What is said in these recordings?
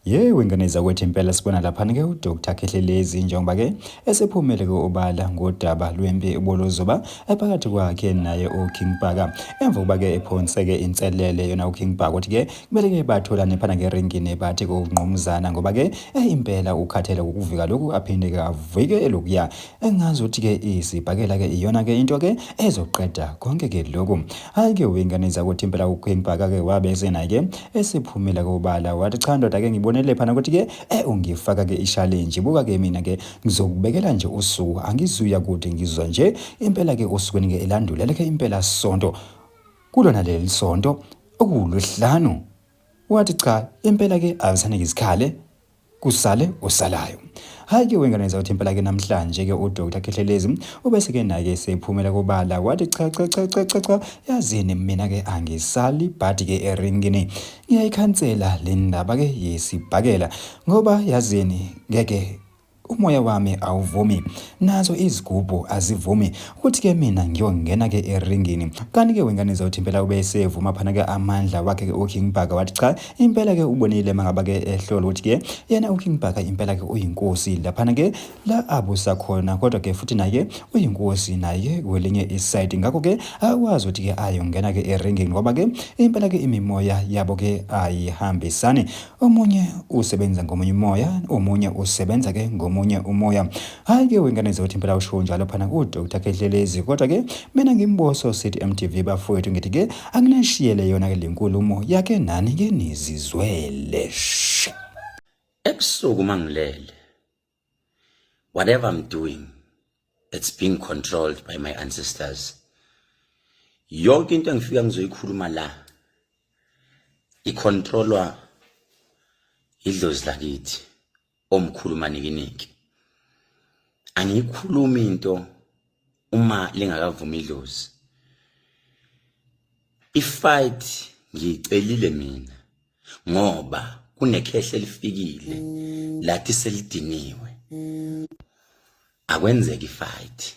Yey wengane zakwethu impela sibona laphana-ke uDr Khehlelezi njengoba-ke esephumele-ke obala ngodaba lwempi ubolozoba ephakathi kwakhe naye uKing Bhaka emva kokuba-ke ephonseke inselele yona uKing Bhaka ukuthi-ke kumele-ke batholane phana ngeringini bathi kungqumuzana ngoba-ke eh, impela ukhathele ukuvika lokhu aphinde-ke avike elokuya engazi ukuthi ke isibhakela ke iyona ke into ke ezoqeda konke ke lokhu hayi ke wengane zakuthi impela ukhwembhaka ke wabe sena ke esiphumela kobala wathi cha ndoda ke ngibonele phana ukuthi ke eh ungifaka ke i-challenge buka ke mina ke ngizokubekela nje usuku angizuya kude ngizwa nje impela ke osukwini ke elandula leke impela sonto kulona leli sonto okuwuluhlanu wathi cha impela ke akusane ngizikhale kusale osalayo hayi ke wengane zawuthi impela ke namhlanje ke uDr Khehlelezi ubese ke naye sephumela kubala wathi cha cha cha cha cha cha yazini mina ke angisali bhadi ke eringini ngiyayikhansela le ndaba ke yesibhakela ngoba yazini ngeke umoya wami awuvumi nazo izigubhu azivumi ukuthi ke mina ngiyongena ke eringini kanti ke wengane zawuthi impela ube sevuma phana ke amandla wakhe ke uKing Bhaka wathi cha Impela ke ubonile mangaba ke ehlolo ukuthi ke yena uKing Bhaka impela ke uyinkosi laphana ke la abusa khona kodwa ke futhi naye uyinkosi naye kwelinye iside ngakho ke akwazi ukuthi ke ayongena ke eringing ngoba ke impela ke imimoya yabo ke ayihambisani omunye usebenza ngomunye umoya omunye usebenza ke ngomunye umoya Hayi ke wengane zothi impela usho njalo phana ku Dr Khehlelezi kodwa ke mina ngimboso City MTV bafowethu ngithi ke anginashiyele yona ke lenkulumo yake nani ke nizizwele ebusuku mangilele whatever i'm doing it's being controlled by my ancestors yonke into engifika ngizoyikhuluma la icontrolwa idlozi lakithi omkhulu manikiniki angiyikhulumi into uma lingakavumi idlozi ifight ngiyicelile mina ngoba kunekhehle elifikile lathi selidiniwe akwenzeki ifight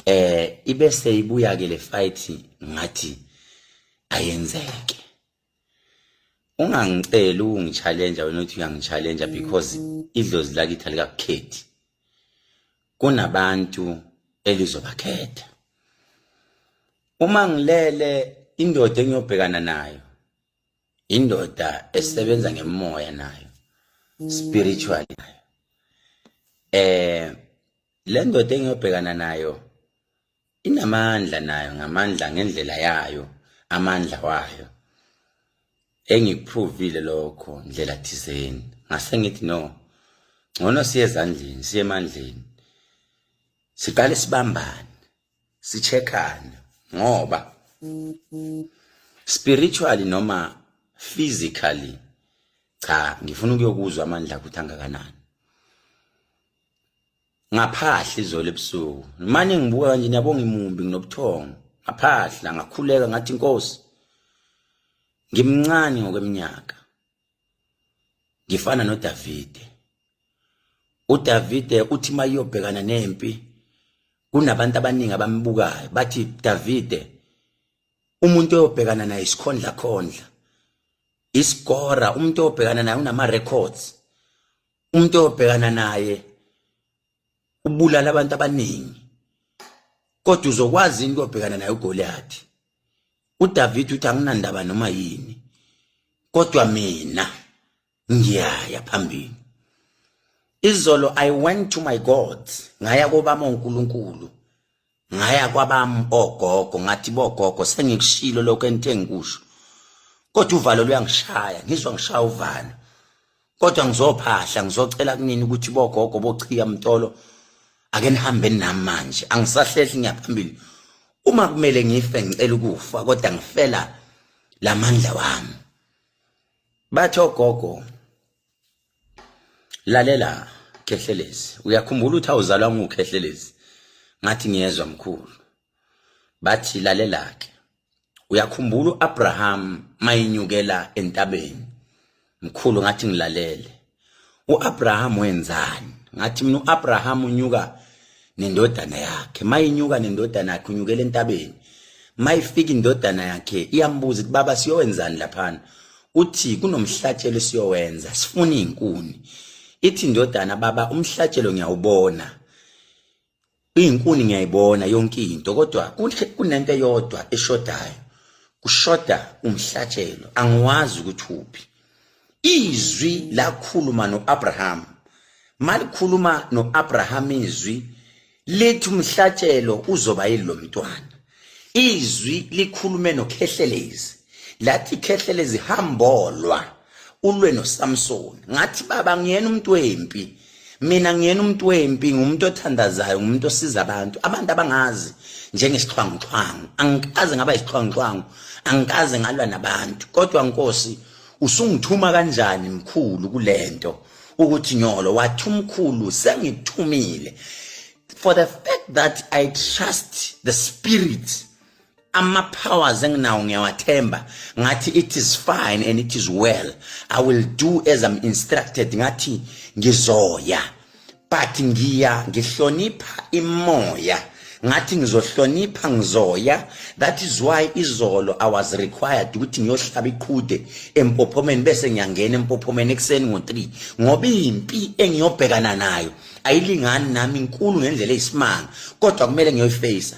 eh ibe seyibuya ke le fight ngathi ayenzeke ungangiceli ukungichallenja wena uthi uyangichallenja because idlozi lakithi alikakukhethi kunabantu elizobakhetha uma ngilele indoda engiyobhekana nayo indoda esebenza ngemoya nayo spiritual nayo eh le ndoda engiyobhekana nayo inamandla nayo ngamandla ngendlela yayo amandla wayo engikuprovile lokho ndlela thizeni ngase ngithi no ngcono siye ezandleni siye emandleni siqale sibambane sicheckane ngoba spiritually noma physically cha ngifuna ukuyokuzwa amandla ukuthi angakanani ngaphahla izolo ebusuku manje ngibuka kanje niyabonga imumbi nginobuthongo ngaphahla ngakhuleka ngathi inkosi ngimncane ngokweminyaka ngifana noDavide uDavide uthi mayiyobhekana nempi kunabantu abaningi abambukayo bathi Davide umuntu oyobhekana naye isikhondla khondla isigora umuntu oyobhekana naye unama records umuntu obhekana naye ubulala abantu abaningi kodwa uzokwazi into obhekana naye uGoliath uDavid uthi anginandaba noma yini kodwa mina ngiyaya phambili izolo i went to my god ngaya kobama uNkulunkulu ngaya kwabami ogogo ngathi bogogo sengikushilo lokho ento engikusho kodwa uvalo luyangishaya ngizwa ngishaya uvalo kodwa ngizophahla ngizocela kunini ukuthi bogogo bochiya mtolo ake nihambe nami manje angisahlehli ngiyaphambili uma kumele ngife ngicela ukufa kodwa ngifela lamandla wami batho gogo lalela khehlelezi uyakhumbula ukuthi awuzalwa ngukhehlelezi ngathi ngiyezwa mkhulu bathi lalela ke uyakhumbula uAbraham mayinyukela entabeni mkhulu ngathi ngilalele uAbraham wenzani ngathi mina uAbraham unyuka nendodana yakhe mayinyuka nendodana yakhe unyukela entabeni mayifika indodana yakhe iyambuza ukuthi baba siyowenzani laphana uthi kunomhlatshelo siyowenza sifuna izinkuni ithi indodana baba umhlatshelo ngiyawubona izinkuni ngiyayibona yonke into kodwa kunento eyodwa eshodayo kushoda umhlatshelo angiwazi ukuthi uphi izwi lakhuluma noAbraham malikhuluma noAbraham izwi lithi umhlatshelo uzoba yilomntwana izwi likhulume nokhehlelezi lathi khehlelezi hambolwa ulwe noSamson ngathi baba ngiyena umuntu wempi mina ngiyena umuntu wempi ngumuntu othandazayo ngumuntu osiza abantu abantu abangazi njengesixhwanguxhwangu angikaze ngaba isixhwanguxhwangu angikaze ngalwa nabantu kodwa nkosi usungithuma kanjani mkhulu kulento ukuthi nyolo wathi umkhulu sengikuthumile for the fact that i trust the spirit ama powers enginawo ngiyawathemba ngathi it is fine and it is well i will do as i'm instructed ngathi ngizoya but ngiya ngihlonipha imoya ngathi ngizohlonipha ngizoya that is why izolo i was required ukuthi ngiyohlaba iqhude empophomeni bese ngiyangena empophomeni ekuseni ngo3 ngoba impi engiyobhekana nayo ayilingani nami inkulu ngendlela eyisimanga kodwa kumele ngiyoyifacea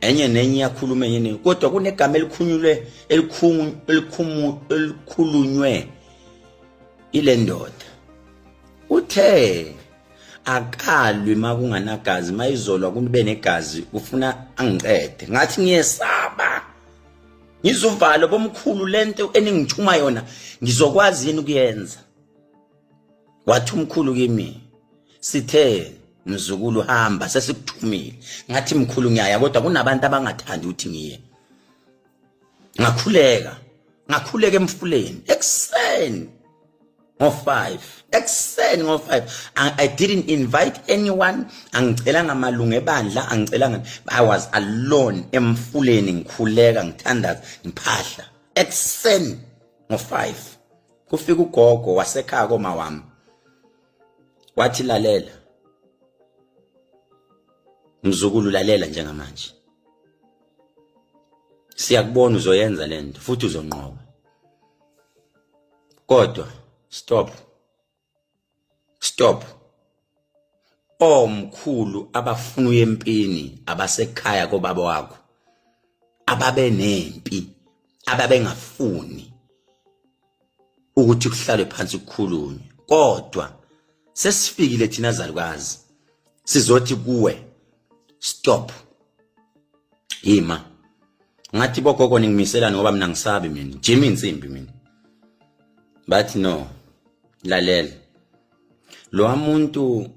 enye nenye iyakhuluma enye nenye kodwa kunegama elikhunyulwe elikhulunywe ile ndoda uthe akalwi makunganagazi mayizolwa kube negazi ufuna angiqede ngathi ngiyesaba ngizuvalo bomkhulu lento eningithuma yona ngizokwazi yini ukuyenza wathi umkhulu kimi sithe mzukulu hamba sesikuthumile ngathi mkhulu ngiyaya kodwa kunabantu abangathandi ukuthi ngiye ngakhuleka ngakhuleka emfuleni ekuseni ngo-5 ekuseni ngo-5 i didn't invite anyone angicelanga malungu ebandla angicelanga i was alone emfuleni ngikhuleka ngithandaza ngiphahla ekuseni ngo-5 kufika ugogo wasekhaya koma wami wathi lalela mzukulu lalela njengamanje siyakubona uzoyenza lento futhi uzonqoba kodwa stop stop omkhulu oh, abafuna uye empini abasekhaya kobaba wakho ababe nempi ababengafuni ukuthi kuhlalwe phansi kukhulunywe kodwa sesifikile thina zalukazi sizothi kuwe stop yima ngathi bogogo ningimiselani ngoba mina ngisabi mina jima insimbi mina bathi no lalela lo muntu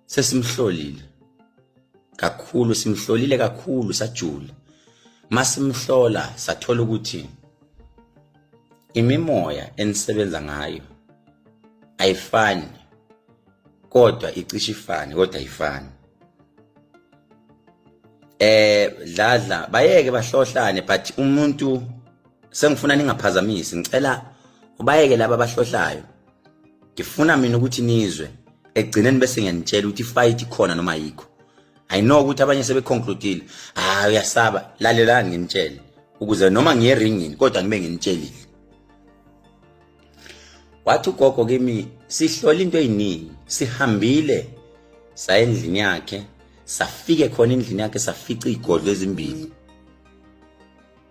sesimhlolile kakhulu simhlolile kakhulu sajula masimhlola sathola ukuthi imimoya enisebenza ngayo ayifani kodwa icishe ifane kodwa ifani eh dladla bayeke bahlohlane but umuntu sengifuna ningaphazamisi ngicela ubayeke laba abahlohlayo ngifuna mina ukuthi nizwe ekugcineni bese ngiyanitshela ukuthi fight ikhona noma yikho i know ukuthi abanye sebeconcludile hayi uyasaba lalelani nginitshele ukuze noma ngiye ringini kodwa ngibe nginitshelile wathi ugogo kimi sihlola into eyiningi sihambile saya endlini yakhe safike khona endlini yakhe safica izigodlo ezimbili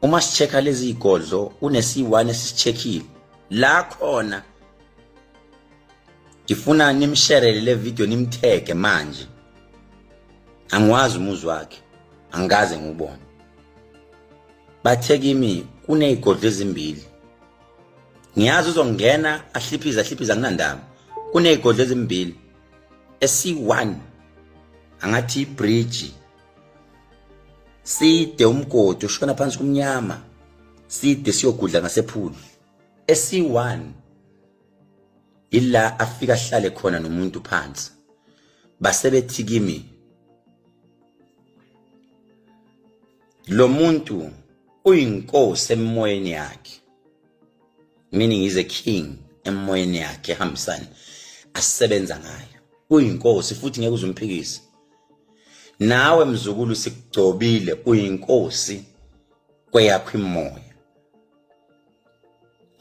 uma sicheka lezi zigodlo unesiwani esichekile la khona ngifuna nimsherele le video nimtheke manje angiwazi umuzi wakhe angikaze ngubone bathe kimi kunezigodlo ezimbili ngiyazi uzongena ahliphize ahliphize anginandaba kuney'godlo ezimbili esi-one angathi ibridge side umgodi ushona phansi kumnyama side siyogudla ngasephulu esi-one ila afika ahlale khona nomuntu phansi basebethi kimi lo muntu uyinkosi emoyeni yakhe meaning is a king emoyeni yakhe ehambisani asebenza ngayo uyinkosi futhi ngeke uzumphikise nawe mzukulu sikugcobile uyinkosi kweyakho imoya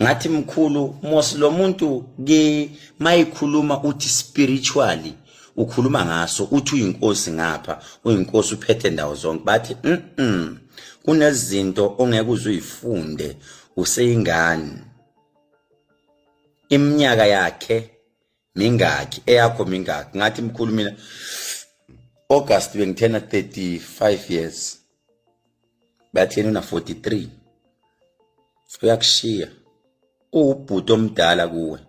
ngathi mkhulu mos lo muntu ke mayikhuluma uthi spiritually ukhuluma ngaso uthi uyinkosi ngapha uyinkosi uphethe ndawo zonke bathi mhm kunezinto ongeke uzuyifunde useyingane iminyaka yakhe mingaki eyakho mingaki ngathi mkhulu mina August bengithena 35 years bathena una 43 uyakushiya uwubhuti omdala kuwe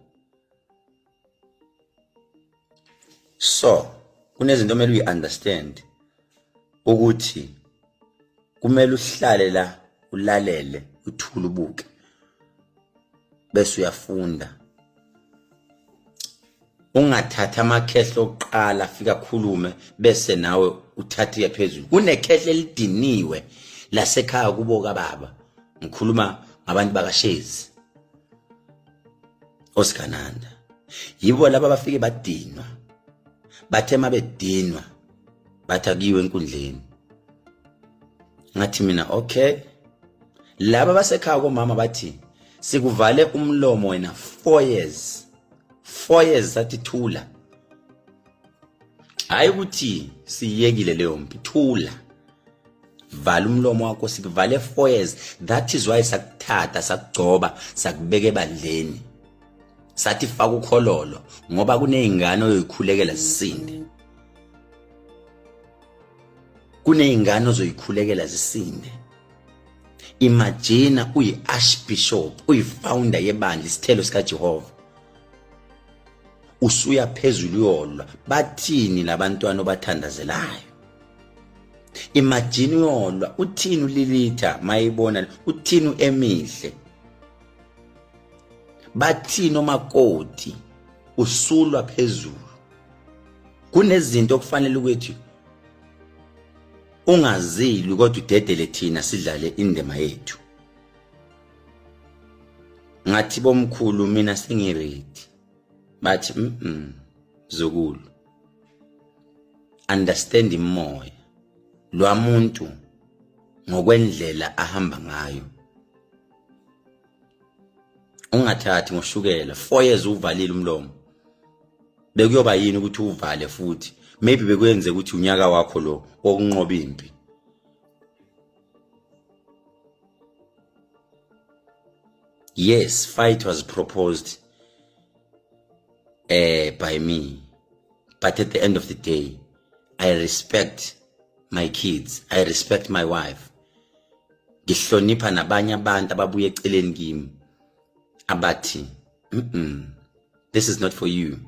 so kunezinto omele uyi-understand ukuthi kumele uhlale la ulalele uthule ubuke bese uyafunda ungathatha amakhehla okuqala afika khulume bese nawe uthathe uye phezulu kunekhehla elidiniwe lasekhaya kubo kababa ngikhuluma ngabantu bakashezi osigananda yibo laba abafike badinwa bathe mabedinwa bathi akuyiwe enkundleni ngathi mina okay laba basekhaya komama bathi sikuvale umlomo wena 4 years 4 years sathi thula hayi ukuthi siyekile leyo mpi thula vala umlomo wakho sikuvale 4 years that is why sakuthatha sakugcoba sakubeka ebandleni sathi faka ukhololo ngoba kunezingane oyoyikhulekela zisinde kunezingane ozoyikhulekela zisinde imagine uyi-archbishop uyi-founder yebandla isithelo sikajehova usuya phezulu uyolwa bathini labantwana obathandazelayo imagine uyolwa uthini ulilitha mayibona uthini uemihle bathini omakoti usulwa phezulu kunezinto okufanele ukuthi ungazilwi kodwa udedele thina sidlale indima yethu ngathi bomkhulu mina sengiredi bathi mm zokulu understand imoya lwamuntu ngokwendlela ahamba ngayo ungathathi ngoshukela 4 years uvalile umlomo bekuyoba yini ukuthi uvale futhi maybe bekuyenze ukuthi unyaka wakho lo wokunqoba impi yes fight was proposed uh, by me but at the end of the day i respect my kids i respect my wife ngihlonipha nabanye abantu ababuye eceleni kimi abathi mm -mm, this is not for you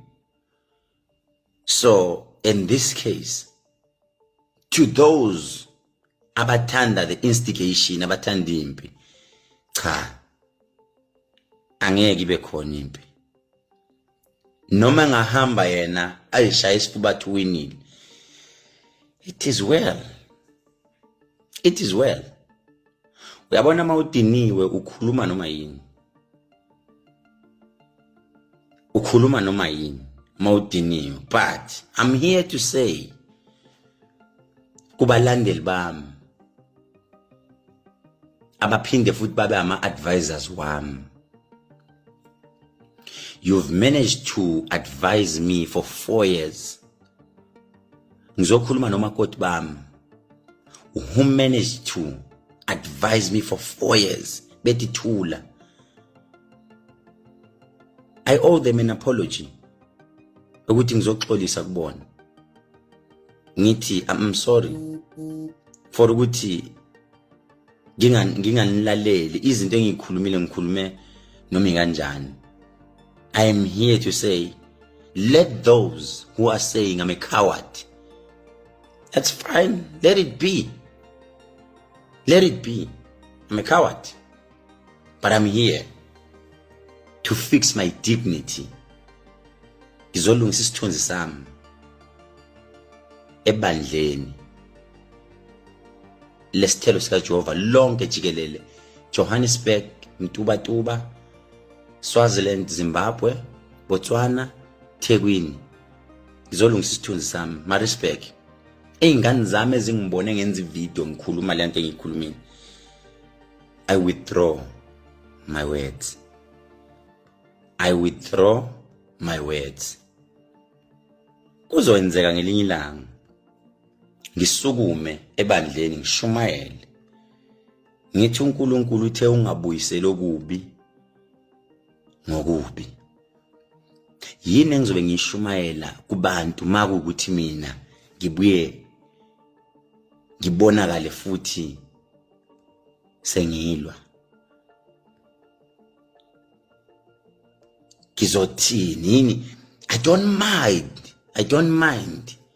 so in this case to those abathanda the instigation abathanda impi cha angeke ibe khona impi noma engahamba yena ayishaya isifuba athi winile it is well it is well uyabona uma udiniwe ukhuluma noma yini ukhuluma noma yini uma udiniwe but i'm here to say kubalandeli bami abaphinde futhi babe ama-advisors wami You've managed to advise me for four years. Ngizokhuluma nomakoti bami. Who managed to advise me for four years. Bethi thula. I owe them an apology ukuthi ngizoxolisa kubona ngithi i'm sorry for ukuthi nginganilaleli izinto engikhulumile ngikhulume noma ikanjani i am here to say let those who are saying i'm a coward that's fine let it be let it be i'm a coward but i'm here to fix my dignity ngizolungisa isithunzi sami ebandleni lesithelo sikaJehova lonke jikelele Johannesburg Mtubatuba Swaziland Zimbabwe Botswana Thekwini ngizolungisa isithunzi sami Maritzburg ey'ngane zami ezingibone ngenza ividiyo ngikhuluma le nto engiyikhulumile i withdraw my words i withdraw my words kuzoyenzeka ngelinye ilanga ngisukume ebandleni ngishumayele ngithi uNkulunkulu uthe ungabuyiseli okubi ngokubi yini engizobe ngishumayela kubantu makukuthi mina ngibuye ngibonakale futhi sengilwa ngizothini yini i don't mind i don't mind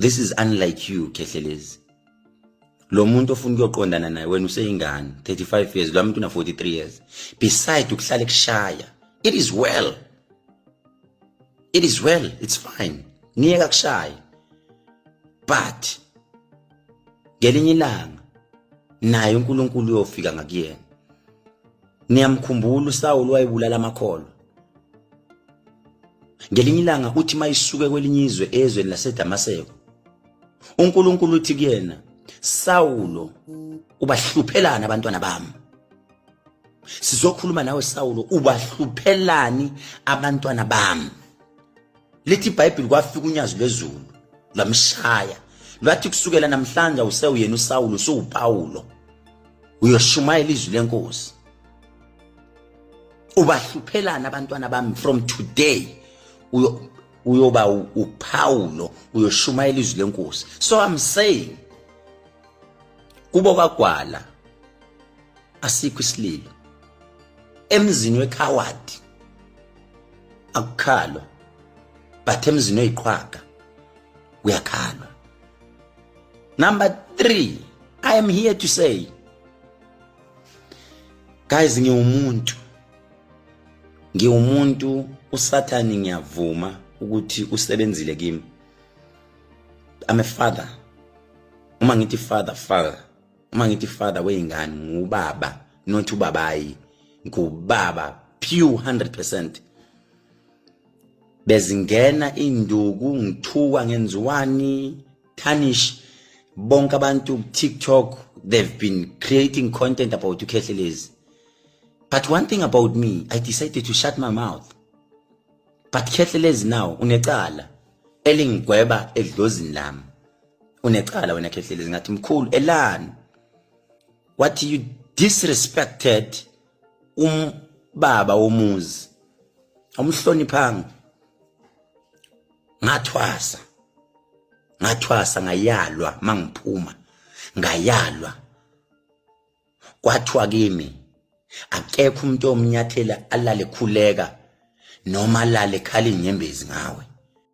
this is unlike you khehlelezi lo muntu ofuna ukuyoqondana naye wena useyingane 35 years lo muntu una 43 years beside ukuhlale kushaya it is well it is well it's fine niyeka kushaya but ngelinye ilanga naye uNkulunkulu uyofika ngakuyena niyamkhumbula uSawulu wayebulala amakholo ngelinye ilanga uthi mayisuke kwelinye izwe ezweni laseDamaseko uNkulunkulu uthi kuyena Sawulo ubahluphelana abantwana bami sizokhuluma nawe Sawulo ubahluphelani abantwana bami lithi iBhayibheli kwafika unyazi lwezulu lwamshaya lwathi kusukela namhlanje usewuyena uSawulo usuwuPawulo uyoshumayela izwi lenkosi ubahluphelana abantwana bami from today uyo uyoba uPaulo uyoshumayela izwi lenkosi so i'm saying kubo kwagwala asikho isililo emzini wekhawadi akukhalwa but emzini oyiqhwaga uyakhalwa number 3 i am here to say guys ngiwumuntu ngiwumuntu usathane ngiyavuma ukuthi usebenzile kimi I'm a father uma ngithi father father uma ngithi father weyingane ngubaba not ubabayi ngubaba pure 100% bezingena induku ngithuka ngenziwani punish bonke abantu ku TikTok they've been creating content about uKhehlelezi but one thing about me I decided to shut my mouth but Khehlelezi now unecala elingigweba edlozini lami unecala wena Khehlelezi ngathi mkhulu elani what you disrespected um baba womuzi awumhloniphanga ngathwasa ngathwasa ngayalwa mangiphuma ngayalwa kwathiwa kimi akekho umuntu omnyathela alale khuleka noma alale khali inyembezi ngawe